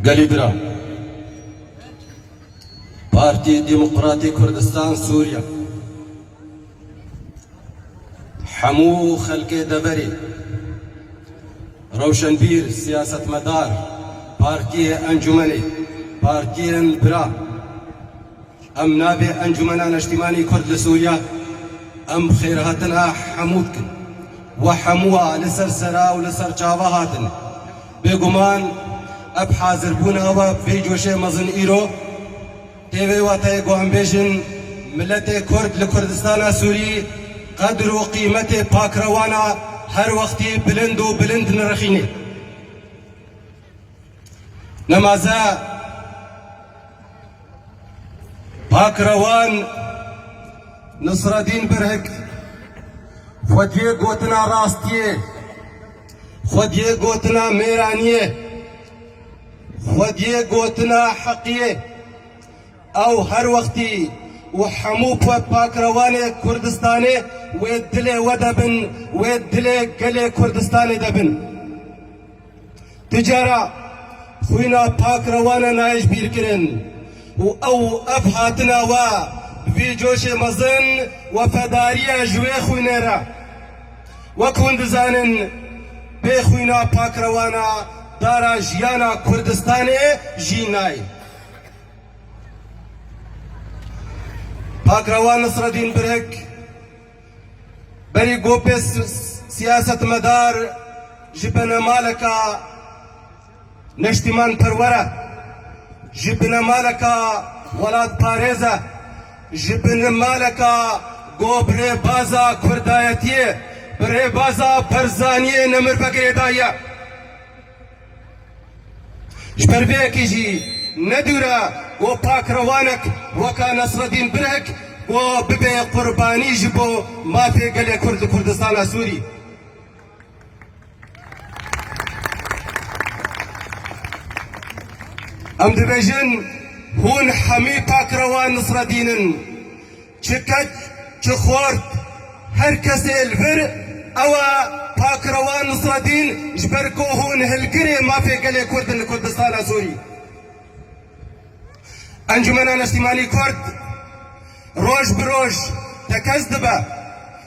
Gelê Biran, Partî Demokratê Kurdistan Sûriye hemû xelkê deverê rewşenbîr, siyasetmedar, partiyê, encûmenê, partiyên bira em navê Encûmena Neştîmanî Kurd li Sûriye em xêrhatina hemû dikin. We hemû a li ser sera û li ser çava hatine. Bêguman ev hazirbûna we vê coşê mezin îro tê vê wateyê ku em bêjin miletê Kurd li Kurdistana Sûrî qedir û qîmetê pakrewana her wextî bilind û bilind nirixînê. Nemaze pakrewan Nisredîn Birhik xwediyê gotina rastiyê, Xwediyê gotina mêranî ye. Xwediyê gotina heqî ye. Ew her wextî û hemû pakrewanê Kurdistanê wê dilê we de bin, wê dilê gelê Kurdistanê de bin. Ti cara xwîna pakrewan e nayejbîrkirin û ew û ev hatina we bi vî coşê mezin wefedarî ye ji wê xwînê re. Wek hûn dizanin bê xwîna pakrewana dara jiyana Kurdistanê jî nayê. Pakrewan Nisredîn Birik berî gopê siyasetmedar ji benemaleka, Neştîmanperwer e, ji binemaleka welatparêz e, ji binimaleka got bi rêbaza kurdayetiyê, bi rêbaza Barzaniyê nemirve girêdayiye. Ji ber vê yekê jî ne dûr e ku pakrewanek weka Nesredîn Birhik got bibe qurbanî ji bo mafê gelê Kurd li Kurdistana Sûrî. Em dibêjin hûn hemî takrewan Nisredîn in. Çi keç, çi xort, her kesê li vir ewa takrewan Nisredîn ji ber ku hûn hilgirê mafê gelê Kurd in li Kurdistana Sûrî. Encûmena Neştîmanî Kurd roj bi roj tekez dibe.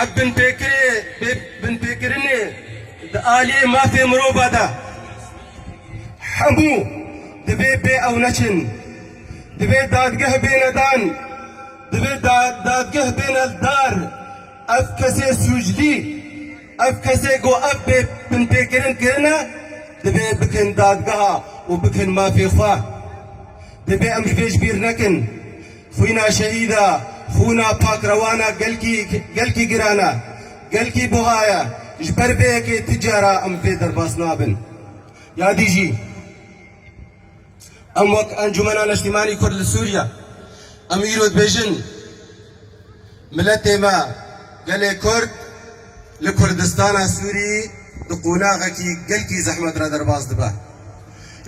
Ev binpêkirinê di aliyê mafê mirova de hemû divê pê ew neçin. Divê dadgeh bêne dan, divê dadgeh bêne li dar ev kesê sûclî, ev kesê ku ev pê binpêkirin kirine divê bikin dadgeha û bikin mafê xwe. Divê em ji vê ji bîr nekin. Xwîna şehîda, xwîna pakrewana gelkî gelkî giran e, gelkî buha ye. Ji ber vê yekê ti cara em vê derbas nabin. Yadî jî em wek Encûmena Neştîmanî Kurd li Sûriye em îro dibêjin, Miletê me, gelê Kurd li Kurdistana Sûrî di qonaxekî gelkî zehmet re derbas dibe.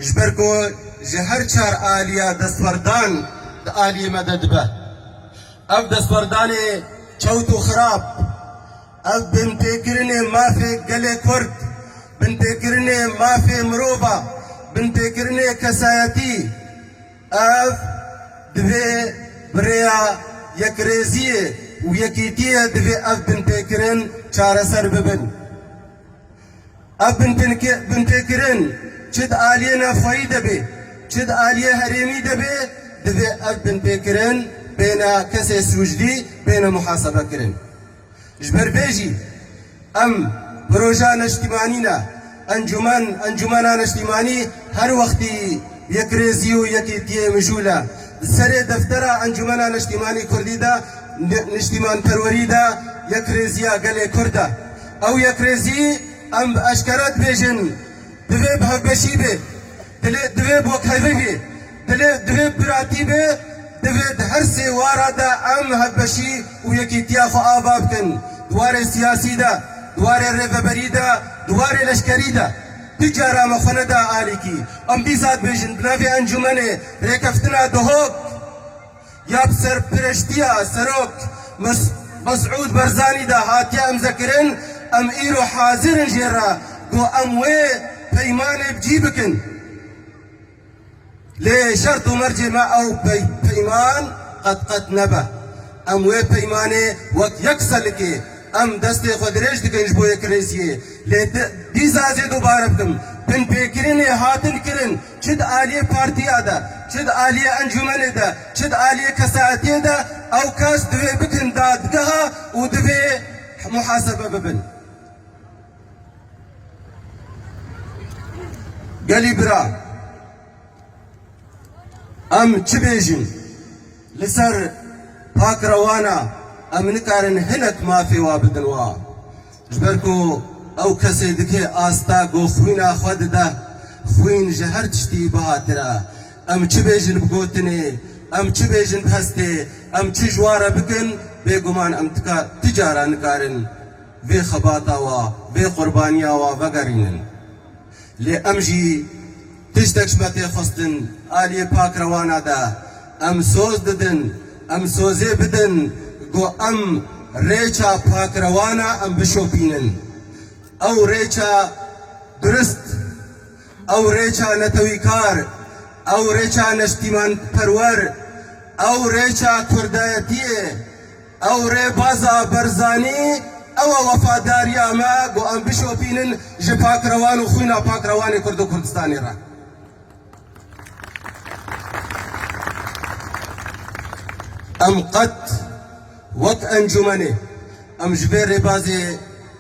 Ji ber ku ji her çar aliya destwerdan di aliyê me de dibe. Ev destwerdanê çewt û xirab, ev binpêkirinê mafê gelê Kurd, binpêkirinê mafê mirov a, binpêkirinê kesayetî, Ev divê bi rêya yekrêziyê û yekîtiyê divê ev binpêkirin çareser bibin. Ev binpêkirin çi di aliyê navxweyî de bê çi di aliyê herêmî de bê divê ev binpêkirin bêne kesê sûcdî bêne muhasebekirin. Ji ber vê jî em projeya neştîmanî ne, encûmen, encûmena neştîmanî her wextî yekrêzî û yekêtiyê mijûl e. Di serê deftera Encûmena Neştîmanî Kurdî de niştîmanperwerî de yekrêziya gelê Kurd e. Ew yekrêzî em bi eşkere dibêjin divê bi hevbeşî bê, divê bi wekhevî bê. Dilê divê piratî be, divê di her sê wara de em hevbeşî û yekîtiya xwe ava bikin, di warê siyasî de, di warê rêveberî de, di warê leşkerî de. Tu cara me xwe neda alî kî em dîsa dibêjin bi navê encûmenê rêkeftina Duhok ya bi serpireştiya Serok Mesûd Barzanî de hatiye imzekirin, em îro hazir in jê re ku em wê peymanê bi cî bikin. Lê şert û mercê me ew peyman qet qet nebe. Em wê peymanê wek yek selikê em destê xwe dirêj dikin ji bo yekirêziyê. Lê dîsa jê dubare bikim, binpêkirinê hatin kirin çi di aliyê partiya de, çi di aliyê encumenê de, çi di aliyê kesaetiyê de ew kes divê bikin dadgeha û divê muhasebe bibin. Gelî bira, em çi bêjin? Li ser pakrewana em nikarin hinek mafê wa bidin wa. Ji ber ku ew kesê dikê asta ku xwîna xwe dide, xwîn ji her tiştî bihatir e. Em çi bêjin bi gotinê, em çi bêjin bi hestê, em çi ji wa re bikin, bêguman em ti cara nikarin. vê xebata wa, vê qurbaniya wa vegerînin. Lê em jî tiştek ji me tê xwestin, aliyê Pak Rewana de em soz didin, em sozê bidin ku em rêça Pak Rewana em bişopînin. Ew rêça durist, ew rêça netewîkar, ew rêça neştîmanperwer, ew rêça kurdayetiyê. Ew rêbaza Barzanî ew e wefadariya me ku em bişopînin ji pakrewan û xwîna pakrewanê Kurd û Kurdistanê re. Em qet wek encûmenê em ji vê rêbazê.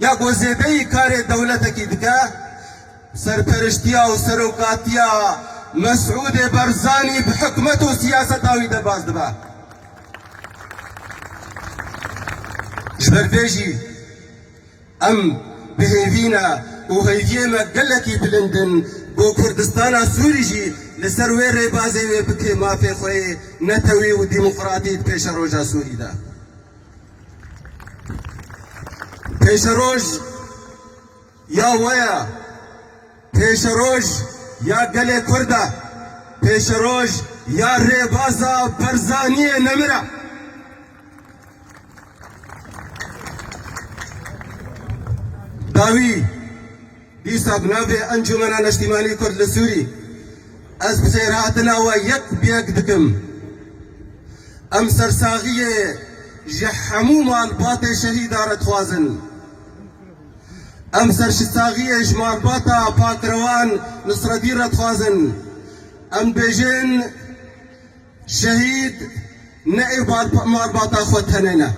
Ya ku zêdeyî karê dewletekî dike, serperiştiya û serokatiya Mesûdê Barzanî bi hikûmet û siyaseta wî derbas dibe. Ji ber vê jî em bi hêvîne û hêviyê me gelekî bilind in ku Kurdistana Sûrî jî li ser wê rêbazê wê bikê mafê xwe yê netewî û demokratîk pêşeroja Sûrî de. Pêşeroj ya we ye, pêşeroj ya gelê Kurd e, pêşeroj ya Rêbaza Barzaniyê Nemir e. Dawî Dîsa bi navê Encûmena Neştîmanî Kurd li Sûrî ez bixêrhatina we yek bi yek dikim. Em sersaxiyê ji hemû malbatê şehîdan re dixwazin. Em serşsaxiyê ji malbata Pakrewan Nisredîn re dixwazin. Em dibêjin. Şehîd ne ê malbata xwe tenê ne,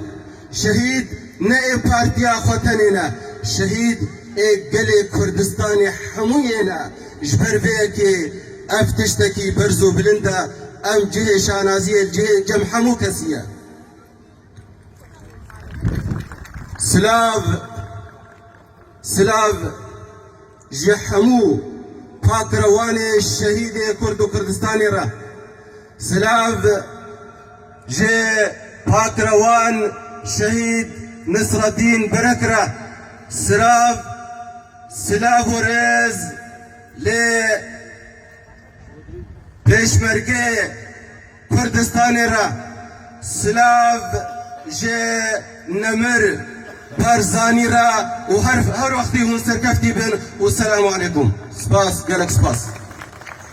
şehîd ne ê partiya xwe tenê ne, şehîd ê gelê Kurdistanê hemû yê ne. Ji ber vê yekê ev tiştekî berz û bilind e, ew cihê şanaziyê li cihê cem hemû kesî ye. Silav, silav. Ji hemû pakirewanê şehîdê Kurd û Kurdistanê re. Silav ji pakirewan şehîd Nisreddîn Berek re. Silav, silav û rêz lê. Pêşmergeyê Kurdistanê re silav ji Nemir Barzanî re û her wextî hûn serkeftî bin û selamû aleykum. Spas, gelek spas.